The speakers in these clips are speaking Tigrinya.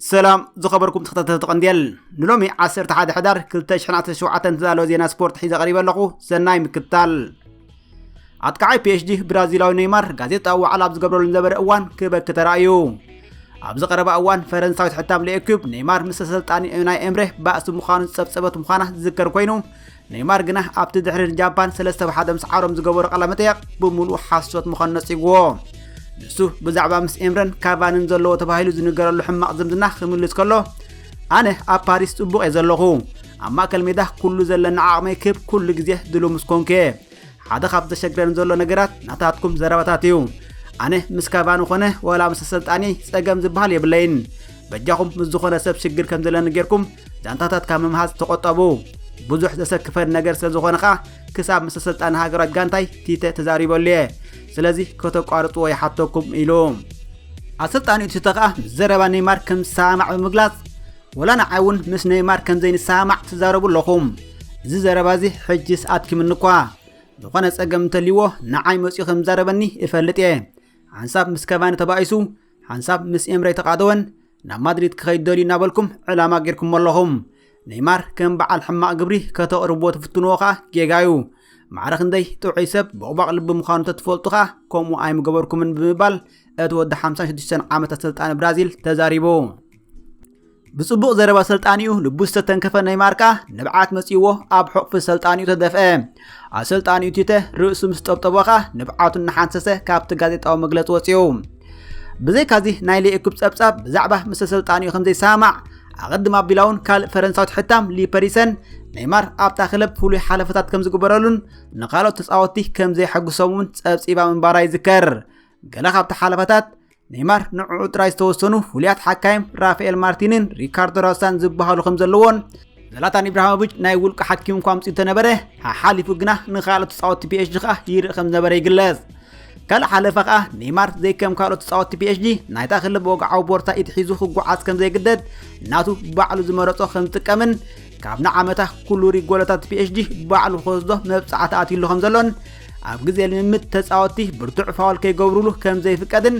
ሰላም ዝኸበርኩም ተኸታተልቲ ቀንዴል ንሎሚ 11 ሕዳር 2017 ተዳለወ ዜና ስፖርት ሒዘ ቀሪበ ኣለኹ ሰናይ ምክትታል ኣጥቃዓይ ፒኤችዲ ብራዚላዊ ነይማር ጋዜጣዊ ዋዕላ ኣብ ዝገብረሉ ዝነበረ እዋን ክበኪ ተራእዩ ኣብዚ ቀረባ እዋን ፈረንሳዊት ሕታም ለኤኩብ ነይማር ምስ ኣሰልጣኒ ናይ ኤምሬ ባእሲ ምዃኑ ዝጸብጸበት ምዃና ዝዝከር ኮይኑ ነይማር ግና ኣብቲ ድሕሪ ንጃፓን ሰለስተ ብሓደ ምስ ዓሮም ዝገበሮ ቃለመጠየቕ ብምሉኡ ሓሶት ምዃኑ ነጺግዎ ንሱ ብዛዕባ ምስ ኤምረን ካቫንን ዘለዎ ተባሂሉ ዝንገረሉ ሕማቕ ዝምድና ክምልስ ከሎ ኣነ ኣብ ፓሪስ ጽቡቕ እየ ዘለኹ ኣብ ማእከል ሜዳ ኩሉ ዘለኒ ዓቕመይ ክብ ኩሉ ግዜ ድሉ ምስ ኮንኩ እየ ሓደ ካብ ዘሸግረን ዘሎ ነገራት ናታትኩም ዘረባታት እዩ ኣነ ምስ ካቫኒ ኾነ ወላ ምስ ኣሰልጣኒ ጸገም ዝበሃል የብለይን በጃኹም ምስ ዝኾነ ሰብ ሽግር ከም ዘለኒ ጌርኩም ዛንታታት ካብ ምምሃዝ ተቖጠቡ ብዙሕ ዘሰክፈን ነገር ስለ ዝኾነ ኸኣ ክሳብ ምስ ኣሰልጣኒ ሃገራት ጋንታይ ቲተ ተዛሪበሉ እየ ስለዚ ከተቋርጽዎ ይሓተኩም ኢሉ ኣሰልጣኒኡ'ቲ ተኽኣ ምስ ዘረባ ነይማር ከም ዝሰማማዕ ብምግላጽ፣ ወላ ንዓይ እውን ምስ ነይማር ከም ዘይንሰማማዕ ትዛረቡ ኣለኹም። እዚ ዘረባ እዚ ሕጂስ ኣድኪሙኒ እኳ። ዝኾነ ጸገም እንተልዩዎ ንዓይ መጺኡ ከም ዝዛረበኒ እፈልጥ እየ። ሓንሳብ ምስ ከቫኒ ተባኢሱ፣ ሓንሳብ ምስ ኤምሬ ተቓደወን፣ ናብ ማድሪድ ክኸይድ ደልዩ እናበልኩም ዕላማ ጌርኩሞ ኣለኹም ነይማር ከም በዓል ሕማቕ ግብሪ ከተቕርብዎ ትፍትንዎ ከኣ ጌጋ እዩ ማዕረ ክንደይ ጥዑይ ሰብ ቦቕባቕ ልቢ ምዃኑ ተትፈልጡ ከኣ ከምኡ ኣይምገበርኩምን ብምባል እቲ ወዲ 56 ዓመት ኣሰልጣኒ ብራዚል ተዛሪቡ ብጽቡቕ ዘረባ ሰልጣኒኡ ልቡ ዝተተንከፈ ነይማር ከኣ ንብዓት መጺእዎ ኣብ ሕቑፊ ሰልጣኒኡ ተደፍአ ኣሰልጣኒኡ ቲተ ርእሱ ምስ ጠብጠቦ ኸኣ ንብዓቱ እናሓንሰሰ ካብቲ ጋዜጣዊ መግለጺ ወጺኡ። ብዘይካዚ ናይ ሌኤኩፕ ጸብጻብ ብዛዕባ ምስ ኣሰልጣኒኡ ከም ዘይሰማማዕ ኣቐድም ኣቢላውን ካልእ ፈረንሳዊት ሕታም ሊፐሪሰን ኔይማር ኣብታ ክለብ ፍሉይ ሓለፈታት ከም ዝግበረሉን ንካልኦት ተጻወትቲ ከም ዘየሐግሶም እውን ጸብጺባ ምንባራ ይዝከር። ገለ ካብቲ ሓለፈታት ኔይማር ንዕዑ ጥራይ ዝተወሰኑ ፍሉያት ሓካይም ራፋኤል ማርቲንን ሪካርዶ ራሳን ዝበሃሉ ከም ዘለዎን ዘላታን ኢብራሂሞቪች ናይ ውልቂ ሓኪም እኳ ኣምፅኡ ተነበረ ሓሓሊፉ ግና ንካልኦት ተፃወቲ ፒኤችዲ ከዓ ይርኢ ከም ዝነበረ ይግለጽ ካልእ ሓለፋ ከዓ ኔይማር ዘይከም ካልኦት ተፃወቲ ፒኤችዲ ናይታ ክለብ ወግዓዊ ቦርሳ ኢድ ሒዙ ክጓዓዝ ከም ዘይግደድ ናቱ ባዕሉ ዝመረፆ ከም ዝጥቀምን ካብ ንዓመታ ኩሉ ሪጎሎታት ፒኤችዲ ባዕሉ ክወስዶ መብፃዕቲ ኣትይሉ ከም ዘሎን ኣብ ግዜ ልምምድ ተጻወትቲ ብርቱዕ ፋውል ከይገብሩሉ ከም ዘይፍቀድን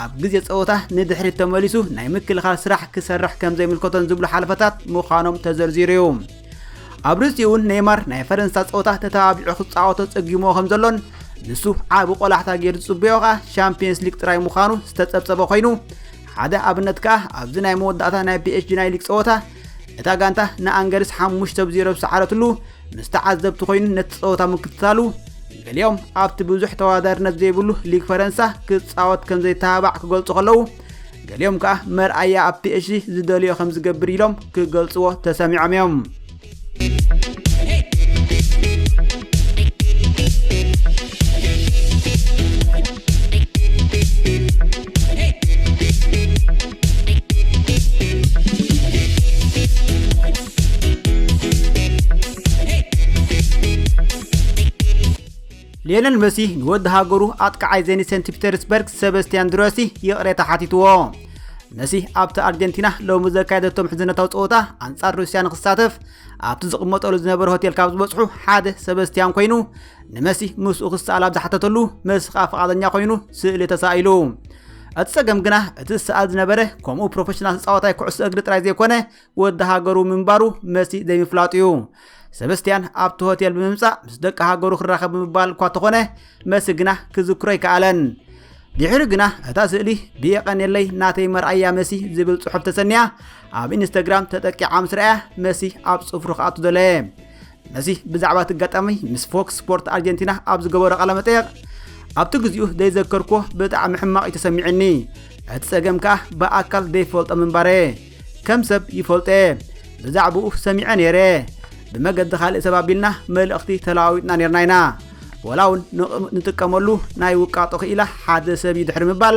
ኣብ ግዜ ጸወታ ንድሕሪት ተመሊሱ ናይ ምክልኻል ስራሕ ክሰርሕ ከም ዘይምልከቶን ዝብሉ ሓለፈታት ምዃኖም ተዘርዚሩ እዩ ኣብ ርእሲ እውን ኔይማር ናይ ፈረንሳ ጸወታ ተተባቢዑ ክጻወቶ ጸጊሞ ከም ዘሎን ንሱ ዓቢ ቆላሕታ ገይሩ ዝጽበዮ ከኣ ሻምፒየንስ ሊግ ጥራይ ምዃኑ ዝተጸብጸበ ኮይኑ ሓደ ኣብነት ከኣ ኣብዚ ናይ መወዳእታ ናይ ፒኤስጂ ናይ ሊግ ጸወታ እታ ጋንታ ንኣንገርስ ሓሙሽተ ብ ዜሮ ዝሰዓረትሉ ምስ ተዓዘብቲ ኮይኑ ነቲ ፀወታ ምክትታሉ ገሊኦም ኣብቲ ብዙሕ ተወዳዳርነት ዘይብሉ ሊግ ፈረንሳ ክፃወት ከም ዘይተባባዕ ክገልጹ ከለዉ ገሊኦም ከዓ መርኣያ ኣብ ፒኤችዲ ዝደልዮ ከም ዝገብር ኢሎም ክገልጽዎ ተሰሚዖም እዮም ሌነል መሲ ንወዲ ሃገሩ ኣጥቃዓይ ዘኒ ሰንት ፒተርስበርግ ሰበስትያን ድረሲ ይቕሬታ ሓቲትዎ መሲ ኣብቲ ኣርጀንቲና ሎሚ ዘካየደቶ ምሕዝነታዊ ፀወታ ኣንጻር ሩስያ ንክሳተፍ ኣብቲ ዝቕመጠሉ ዝነበረ ሆቴል ካብ ዝበፅሑ ሓደ ሰበስትያን ኮይኑ ንመሲ ምስኡ ክሰኣል ኣብ ዝሓተተሉ መሲ ከዓ ፍቓደኛ ኮይኑ ስእሊ ተሳኢሉ እቲ ጸገም ግና እቲ ዝሰኣል ዝነበረ ከምኡ ፕሮፌሽናል ተጻዋታይ ኩዕሶ እግሪ ጥራይ ዘይኮነ ወዲ ሃገሩ ምንባሩ መሲ ዘይምፍላጡ እዩ ሰበስትያን ኣብቲ ሆቴል ብምምጻእ ምስ ደቂ ሃገሩ ክራኸብ ብምባል እኳ ተኾነ መሲ ግና ክዝክሮ ኣይከኣለን ድሕሪ ግና እታ ስእሊ ብየቐንየለይ ናተይ መርኣያ መሲ ዝብል ጽሑፍ ተሰንያ ኣብ ኢንስተግራም ተጠቂዓ ምስ ረኣያ መሲ ኣብ ጽፍሩ ክኣቱ ደለየ ነዚ ብዛዕባ እቲ ኣጋጣሚ ምስ ፎክስ ስፖርት ኣርጀንቲና ኣብ ዝገበሮ ቃለመጠየቕ ኣብቲ ግዜኡ ዘይዘከርኩዎ ብጣዕሚ ሕማቕ እዩ ተሰሚዕኒ እቲ ጸገም ከኣ ብኣካል ዘይፈልጦ ምንባረ ከም ሰብ ይፈልጦ እየ ብዛዕባኡ ሰሚዐ ነይረ ብመገዲ ካልእ ሰብ ኣቢልና መልእኽቲ ተለዋዊጥና ነርና ኢና ወላ እውን ንጥቀመሉ ናይ ውቃጦ ክኢላ ሓደ ሰብ እዩ ድሕሪ ምባል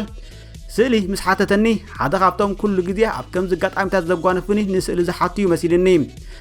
ስእሊ ምስ ሓተተኒ ሓደ ካብቶም ኩሉ ግዜ ኣብ ከምዚ ኣጋጣሚታት ዘጓንፉኒ ንስእሊ ዝሓቱ እዩ መሲልኒ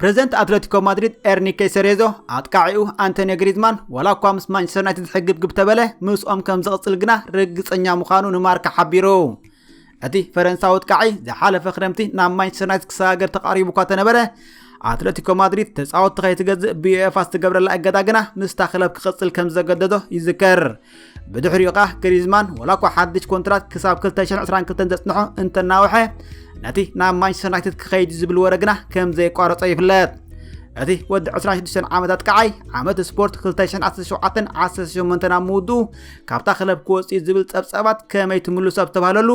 ፕረዚደንት ኣትለቲኮ ማድሪድ ኤርኒኬ ሰሬዞ ኣጥቃዒኡ ኣንቶኒ ግሪዝማን ዋላ እኳ ምስ ማንቸስተር ዩናይትድ ዝሕግብግብ ተበለ ምስኦም ከም ዝቕፅል ግና ርግፀኛ ምዃኑ ንማርካ ሓቢሩ እቲ ፈረንሳዊ ኣጥቃዒ ዝሓለፈ ክረምቲ ናብ ማንቸስተር ዩናይትድ ክሰጋገር ተቃሪቡ እኳ ተነበረ ኣትለቲኮ ማድሪድ ተፃወትቲ ከይትገዝእ ብዩኤፋ ዝተገብረላ እገዳ ግና ምስታ ክለብ ክቕፅል ከም ዘገደዶ ይዝከር ብድሕሪኡ ከኣ ግሪዝማን ወላኳ ሓድሽ ኮንትራት ክሳብ 2022 ዘጽንሖ እንተናውሐ ነቲ ናብ ማንቸስተር ዩናይትድ ክኸይድ ዝብል ወረ ግና ከም ዘይቋረጾ ይፍለጥ እቲ ወዲ 26 ዓመታት ቀዓይ ዓመት ስፖርት 2017 18 ናብ ምውድኡ ካብታ ክለብ ክወፅእ ዝብል ፀብፀባት ከመይ ትምልሶ ኣብ ዝተባሃለሉ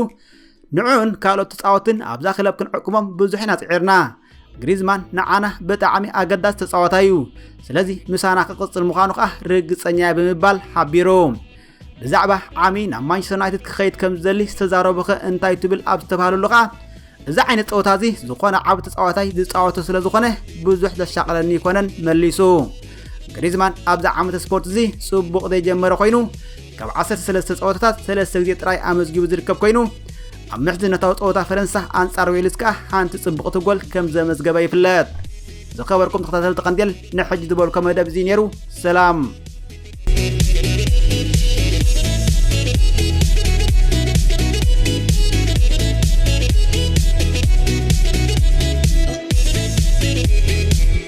ንዕኡን ካልኦት ተፃወትን ኣብዛ ክለብ ክንዕቅቦም ብዙሕ ኢና ፅዒርና ግሪዝማን ንዓና ብጣዕሚ ኣገዳሲ ተፃዋታይ እዩ ስለዚ ምሳና ክቕፅል ምዃኑ ከዓ ርግፀኛ እየ ብምባል ሓቢሩ ብዛዕባ ዓሚ ናብ ማንቸስተር ዩናይትድ ክኸይድ ከም ዝደሊ ዝተዛረቡ ኸ እንታይ ትብል ኣብ ዝተባሃለሉ ከዓ እዚ ዓይነት ፀወታ እዚ ዝኾነ ዓብ ተፃዋታይ ዝፃወቶ ስለ ዝኾነ ብዙሕ ዘሻቕለኒ ይኮነን መሊሱ ግሪዝማን ኣብዚ ዓመተ ስፖርት እዚ ፅቡቕ ዘይጀመረ ኮይኑ ካብ ዓሰርተ ሰለስተ ጸወታታት ሰለስተ ግዜ ጥራይ ኣመዝጊቡ ዝርከብ ኮይኑ ኣብ ምሕዝነታዊ ጸወታ ፈረንሳ ኣንጻር ዌልስ ከኣ ሓንቲ ጽቡቕቲ ጎል ከም ዘመዝገበ ይፍለጥ። ዝኸበርኩም ተኸታተልቲ ቀንዴል ንሕጂ ዝበልኮ መደብ እዚ ነይሩ ሰላም Thank you.